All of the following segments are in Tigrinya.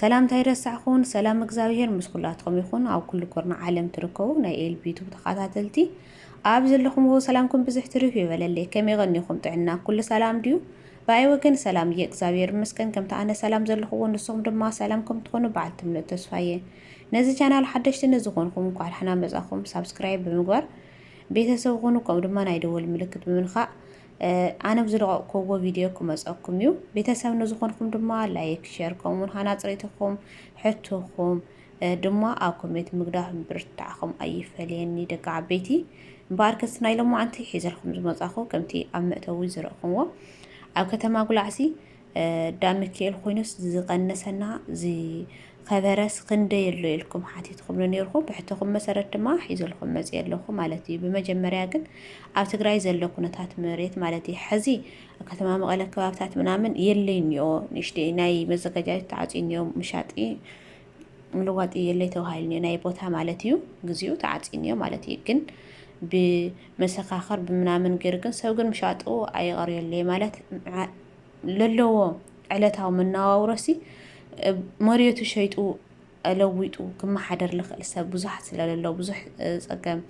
ሰላምታ ኣይረሳዕኩን ሰላም እግዝኣብሄር ምስ ኩላትኩም ይኩን ኣብ ኩሉ ኩርናዕ ዓለም ትርከቡ ናይ ኤልቢ ቱብ ተካታተልቲ ኣብ ዘለኩምዎ ሰላምኩም ብዝሕ ትርፍ ይበለለይ ከመይ ቀኒኩም ጥዕና ኩሉ ሰላም ድዩ ብኣይ ወገን ሰላም እየ እግዝኣብሄር ይመስገን ከምቲ ኣነ ሰላም ዘለኩዎ ንስኩም ድማ ሰላም ከም ትኮኑ በዓልቲ ምሉእ ተስፋ እየ ነዚ ቻናል ሓደሽቲ ንዝኮንኩም እንኳዕ ዳሕና መጻኩም ሳብስክራይብ ብምግባር ቤተሰብ ኩኑ ከምኡ ድማ ናይ ደወል ምልክት ብምንካእ ኣነ ብዝለቐቕኩዎ ቪድዮ ክመፀኩም እዩ። ቤተሰብ ንዝኾንኩም ድማ ላይክ፣ ሸር ከምኡውን ሃናፅ ርእይቶኹም ሕቶኹም ድማ ኣብ ኮሜንት ምግዳፍ ምብርትታዕኹም ኣይፈለየኒ ደቂ ዓበይቲ። እምበኣር ክስ ናይ ሎማዓንቲ ሒዘልኩም ዝመፃኹ ከምቲ ኣብ መእተዊ ዝረእኹምዎ ኣብ ከተማ ጉላዕሲ ዳሚኪኤል ኮይኑስ ዝቀነሰና ዝከበረስ ክንደይ ኣሎ ኢልኩም ሓቲትኩምኒ ኔርኩም ብሕቶኹም መሰረት ድማ ሒዘልኩም መጽየ ኣለኹ ማለት እዩ ብመጀመርያ ግን ኣብ ትግራይ ዘሎ ኩነታት መሬት ማለት እዩ ሕዚ ከተማ መቐለ ከባብታት ምናምን የለይ እኒኦ ንእሽተይ ናይ መዘጋጃየት ተዓጽዩ እኒኦ ምሻጢ ምልዋጥ የለይ ተባሂሉ እኒኦ ናይ ቦታ ማለት እዩ ግዚኡ ተዓጽዩ እኒኦ ማለት እዩ ግን ብመሰካኸር ብምናምን ገይሩ ግን ሰብ ግን ምሻጡ ኣይቐርየለይ ማለት ለለዎ ዕለታዊ መነባብሮሲ መሬቱ ሸይጡ ለዊጡ ክመሓደር ልኽእል ሰብ ብዙሓት ስለለሎ ብዙሕ ፀገም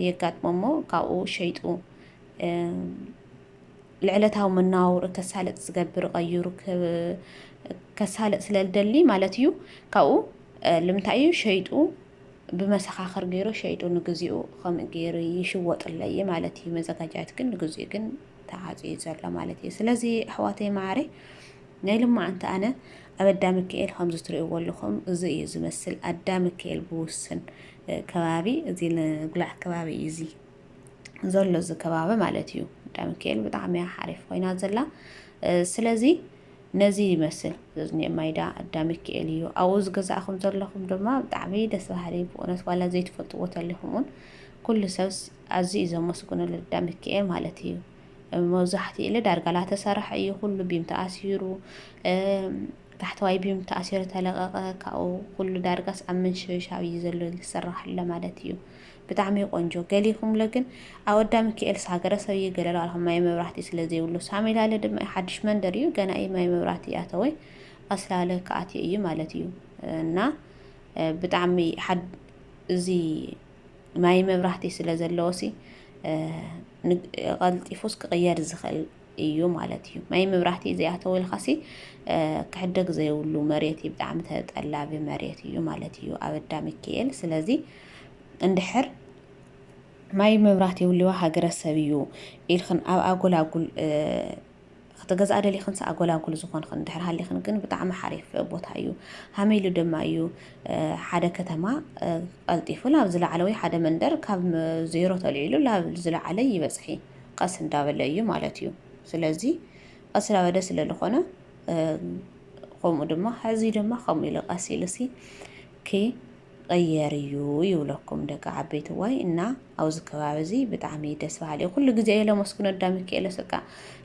የጋጥሞ እሞ ካብኡ ሸይጡ ልዕለታዊ መነባብሮ ከሳለጥ ዝገብር ቀይሩ ከሳለጥ ስለ ዝደሊ ማለት እዩ ካብኡ ልምንታይ እዩ ሸይጡ ብመሰኻኽር ገይሩ ሸይጡ ንግዚኡ ከምኡ ገይሩ ይሽወጥለይ ማለት እዩ መዘጋጃት ግን ንግዚኡ ግን ተዓጽዩ ዘሎ ማለት እዩ ስለዚ ኣሕዋተይ መዓረ ናይ ልማዓንቲ ኣነ ኣብ ኣዳምክኤል ከምዚ ትሪእዎ ኣለኹም እዚ እዩ ዝመስል ኣዳምክኤል ብውስን ከባቢ እዚ ንጉላዕ ከባቢ እዩ እዚ ዘሎ እዚ ከባቢ ማለት እዩ ኣዳምክኤል ብጣዕሚ እያ ሓሪፍ ኮይና ዘላ ስለዚ ነዚ ይመስል ዝኒ ማይዳ ኣዳምክኤል እዩ ኣብኡ ዝገዛእኹም ዘለኹም ድማ ብጣዕሚ ደስ በሃሊ ብእውነት ዋላ ዘይትፈልጥዎ ተሊኹም እውን ኩሉ ሰብ ኣዝዩ እዩ ዘመስግኖ ልዳ ምኪኤል ማለት እዩ መብዛሕትኡ ኢለ ዳርጋ ላተሰራሕ እዩ ኩሉ ቢም ተኣሲሩ ታሕተዋይ ቢም ተኣሲሩ ተለቐቐ ካብኡ ኩሉ ዳርጋስ ኣብ ምንሽብሻብ እዩ ዘሎ ዝስራሕ ኣሎ ማለት እዩ ብጣዕሚ ቆንጆ ገሊኹምለ ግን ኣወዳ ምክኤልስ ሃገረሰብ እዩ ገለሉ ኣልኹም ማይ መብራህቲ ስለ ዘይብሉ ሳሚላለ ድማ ሓድሽ መንደር እዩ ገና እዩ ማይ መብራህቲ ኣተወይ ኣስላለ ክኣትዮ እዩ ማለት እዩ እና ብጣዕሚ እዚ ማይ መብራህቲ ስለ ዘለዎሲ ቐልጢፉስ ክቕየር ዝኽእል እዩ ማለት እዩ። ማይ መብራህቲ ዘይኣተወልካሲ ክሕደግ ዘይብሉ መሬት እዩ፣ ብጣዕሚ ተጠላቢ መሬት እዩ ማለት እዩ ኣብ ኣዳ ሚካኤል። ስለዚ እንድሕር ማይ መብራህቲ ይብልዋ ሃገረሰብ እዩ ኢልክን ኣብ ኣጎላጉል ክትገዝኣ ደሊኽንስ ኣጎላጉል ዝኾንኽን እንድሕር ሃሊኽን ግን ብጣዕሚ ሓሪፍ ቦታ እዩ። ሃመይ ኢሉ ድማ እዩ ሓደ ከተማ ቐልጢፉ ላብ ዝለዓለ ወይ ሓደ መንደር ካብ ዜሮ ተልዒሉ ላብ ዝለዓለ ይበፅሒ ቐስ እንዳበለ እዩ ማለት እዩ። ስለዚ ቐስ ላበደ ስለልኾነ ኸምኡ ድማ ሕዚ ድማ ከምኡ ኢሉ ቐስ ኢሉሲ ኪ ቕየር እዩ ይብለኩም ደቂ ዓበይትዋይ እና ኣብዚ ከባቢ እዚ ብጣዕሚ ደስ በሃሊ እዩ ኩሉ ግዜ እየ ለመስግኖ ኣዳ ሚካኤሎስ እቃ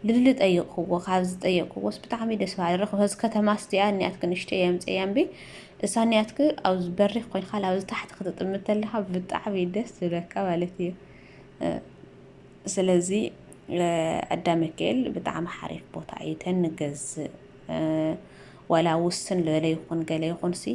ልድሊ ጠይቕክዎ ካብ ዝጠየቅክዎስ ብጣዕሚ ደስ በሃሊ ረኽ በዚ ከተማ ስቲያ እኒኣትክ ንእሽተይ እየ ኣምፀያ እምቢ እሳ እኒኣትክ ኣብዚ በሪኽ ኮይንካ ኣብዚ ታሕቲ ክትጥምት ተለካ ብጣዕሚ ደስ ዝብለካ ማለት እዩ ስለዚ ኣዳ ሚካኤል ብጣዕሚ ሓሪፍ ቦታ እዩ ተንገዝእ ዋላ ውስን ዝበለ ይኹን ገለ ይኹን ሲ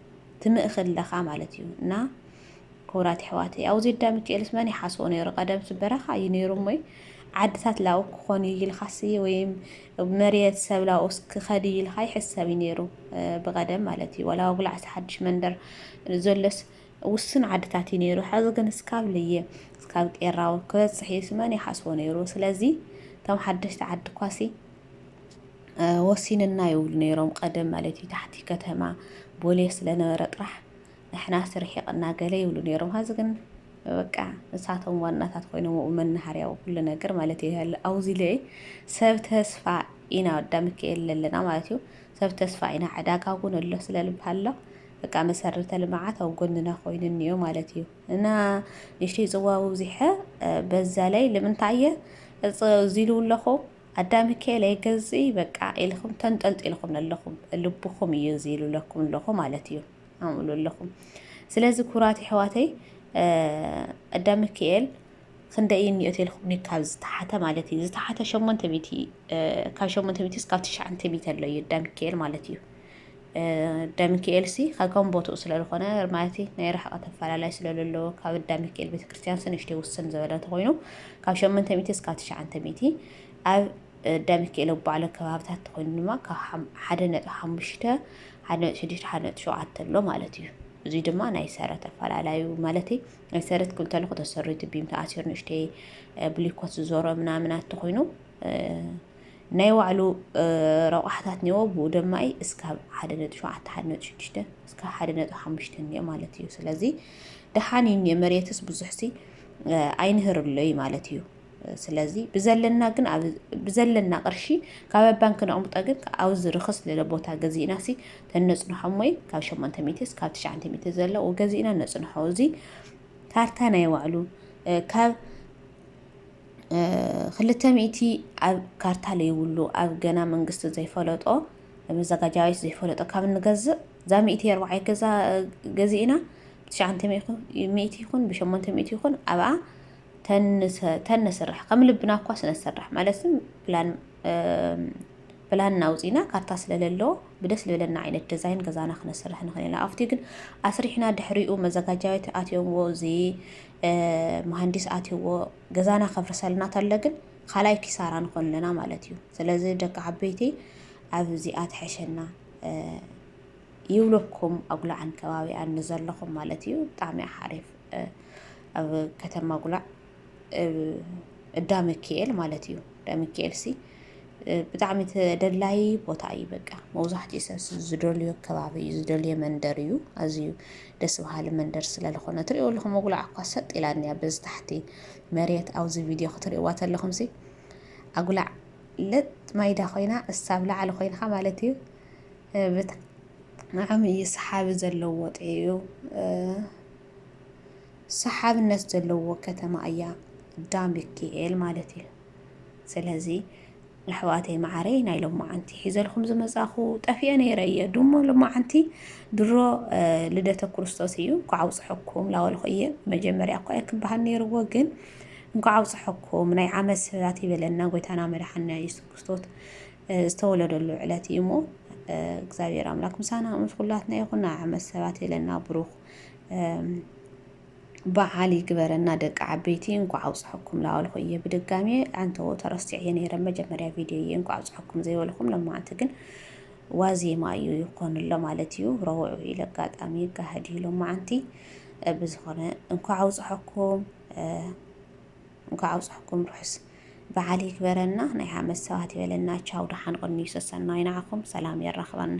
ትምእኺ ኣለኻ ማለት እዩ እና ክቡራት ኣሕዋተይ ኣብዚ ኣዳ ሚካኤልስ መን ይሓስቦ ነይሩ ቀደምስ በረኻ እዩ ነይሩ እሞይ ዓድታት ላኡ ክኾን እዩ ኢልካሲ ወይም መሬት ሰብ ላኡስ ክኸድ እዩ ኢልካ ይሕሰብ እዩ ነይሩ ብቐደም ማለት እዩ ወላ ወጉላዕሲ ሓድሽ መንደር ዘሎስ ውሱን ዓድታት እዩ ነይሩ ሕዚ ግን እስካብ ልየ እስካብ ቄራው ክበፅሕ እዩስ መን ይሓስቦ ነይሩ ስለዚ እቶም ሓደሽቲ ዓዲ ኳሲ ወሲንና ይብሉ ነይሮም ቀደም ማለት እዩ ታሕቲ ከተማ ቦሌ ስለነበረ ጥራሕ ንሕናስ ርሒቕና ገለ ይብሉ ነይሮም ሀዚ ግን በቃ ንሳቶም ዋናታት ኮይኖም ኣብኡ መናሃርያው ኩሉ ነገር ማለት እዩ ያለ ኣውዚ ልዒ ሰብ ተስፋ ኢና ወዳ ሚካኤል ለለና ማለት እዩ ሰብ ተስፋ ኢና ዕዳጋ እውን ኣሎ ስለልብሃሎ በቃ መሰረተ ልምዓት ኣብ ጎንና ኮይኑ እኒኦ ማለት እዩ እና ንሽተይ ፅዋ ውብዚሐ በዛ ላይ ልምንታይ እየ እዚ ኢሉ ኣለኹ ኣዳ ምኪኤል ኣይገዝኢ በቃ ኢልኩም ተንጠልጢልኩም ኣለኩም ልብኩም እዩ እዚ ኢሉለኩም ኣለኩ ማለት እዩ ኣምእሉ ኣለኩም ስለዚ ኩራት ይሕዋተይ ኣዳ ምኪኤል ክንደይ እዩ ኒኦት ኢልኩም ካብ ዝተሓተ ማለት እዩ ዝተሓተ ሸሞንተ ሚእቲ ካብ ሸሞንተ ሚእቲ እስካብ ትሽዓንተ ሚእቲ ኣሎ እዩ ኣዳ ምኪኤል ማለት እዩ ዳሚኪኤል ሲ ከከም ቦትኡ ስለዝኾነ ማለት ናይ ርሕቐት ኣፈላላይ ስለዘለዎ ካብ ዳሚኪኤል ቤተክርስትያን ሲ ንእሽተይ ውስን ዝበለ እንተኾይኑ ካብ ሸመንተ ሚእቲ እስካብ ትሽዓንተ ሚእቲ ኣብ ዳሚኪኤል ኣብ ባዕሉ ከባብታት እንተኾይኑ ድማ ካብ ሓደ ነጥቢ ሓሙሽተ ሓደ ነጥቢ ሽዱሽተ ሓደ ነጥቢ ሸውዓተ ኣሎ ማለት እዩ እዚ ድማ ናይ ሰረት ኣፈላላዩ ማለት ናይ ሰረት ክብል ተለኹ ተሰሪቱ ቢም ተኣሲሩ ንእሽተይ ብሊኮት ዝዞሮ ምናምናት እንተኾይኑ ናይ ባዕሉ ረቋሕታት እኒዎ ብኡ ድማ እስካብ ሓደ ነጥቢ ሸውዓተ ሓደ ነጥቢ ሽዱሽተ እስካብ ሓደ ነጥቢ ሓሙሽተ እኒኦ ማለት እዩ ስለዚ ደሓን እዩ እኒኦ መሬትስ ብዙሕ ሲ ኣይንህርሎ እዩ ማለት እዩ ስለዚ ብዘለና ግን ብዘለና ቅርሺ ካብ ኣብ ባንክ ነቕምጦ ግን ኣብዚ ርኽስ ልለ ቦታ ገዚእና ሲ ተነፅንሖ ሞይ ካብ ሸሞንተ ሚትስ ካብ ትሽዓንተ ሚትስ ዘለዉ ገዚእና ነፅንሖ እዚ ካርታ ናይ ባዕሉ ካብ ክልተ ሚእቲ ኣብ ካርታ ለይብሉ ኣብ ገና መንግስቲ ዘይፈለጦ መዘጋጃ ቤት ዘይፈለጦ ካብ ንገዝእ እዛ ሚእቲ ኣርባዕይ ገዛ ገዚእና ብትሽዓንተ ሚእቲ ይኹን ብሸሞንተ ሚእቲ ይኹን ኣብኣ ተንስራሕ ከም ልብና እኳ ስነሰርሕ ማለት ፕላን ፕላን ናውፂና ካርታ ስለለለዎ ብደስ ልበለና ዓይነት ዲዛይን ገዛና ክነስርሕ ንኽእል ኢና ኣብቲ ግን ኣስሪሕና ድሕሪኡ መዘጋጃ ቤት ኣትዮምዎ እዚ መሃንዲስ ኣትዩዎ ገዛና ከፍርሰልና ተሎ ግን ካልኣይ ኪሳራ ንኾን ኣለና ማለት እዩ ስለዚ ደቂ ዓበይቲ ኣብዚኣ ትሐሸና ይብለኩም ኣጉላዕን ከባቢኣን ንዘለኹም ማለት እዩ ብጣዕሚ ሓሪፍ ኣብ ከተማ ጉላዕ እዳ መኪኤል ማለት እዩ ደሚካኤል ሲ ብጣዕሚ ተደላዪ ቦታ እዩ በቃ መብዛሕትኡ ሰብ ዝደልዮ ከባቢ እዩ ዝደልዮ መንደር እዩ ኣዝዩ ደስ በሃሊ መንደር ስለዝኾነ ትሪእዎ ኣለኹም መጉላዕ እኳ ሰጥ ኢላ እኒኣ በዚ ታሕቲ መሬት ኣብዚ ቪድዮ ክትሪእዋ ተለኹም ሲ ኣጉላዕ ለጥ ማይዳ ኮይና እሳብ ላዕሊ ኮይንካ ማለት እዩ ብጣዕሚ እዩ ሰሓቢ ዘለዎ ጥዑ ሰሓብነት ዘለዎ ከተማ እያ ዳምብኪኤል ማለት እዩ ስለዚ ኣሕዋተይ መዓረይ ናይ ሎማዓንቲ ሒዘልኩም ዝመፃኹ ጠፊኤ ነይረ እየ ድሞ ሎማዓንቲ ድሮ ልደተ ክርስቶስ እዩ እንኳ ኣውፅሐኩም ላወልኹ እየ መጀመርያ እኳ እየ ክበሃል ነይርዎ ግን እንኳ ኣውፅሐኩም ናይ ዓመት ሰባት ይበለና ጎይታና መድሓና የሱስ ክርስቶስ ዝተወለደሉ ዕለት እዩ እሞ እግዚኣብሔር ኣምላክ ምሳና ምስ ኩላትና ይኹን ናይ ዓመት ሰባት ይለና ብሩክ በዓል ይግበረና ደቂ ዓበይቲ እንኳዕ ኣውፅሐኩም ላበልኩ እየ ብድጋሚ ኣንተዎ ተረሲዐየ ነይረ መጀመርያ ቪድዮ እየ እንኳዕ ኣውፅሐኩም ዘይበልኩም ለማዓንቲ ግን ዋዜማ እዩ ይኾንሎ ማለት እዩ ረውዑ ኢለ ኣጋጣሚ ይጋሃድ እዩ ለማዓንቲ ብዝኾነ እንኳዕ ኣውፅሐኩም እንኳዕ ኣውፅሐኩም ርሑስ በዓል ይግበረና ናይ ሓመት ሰባት ይበለና ቻው ደሓን ቁኒ ሰሰናይ ንዓኹም ሰላም የራኽበና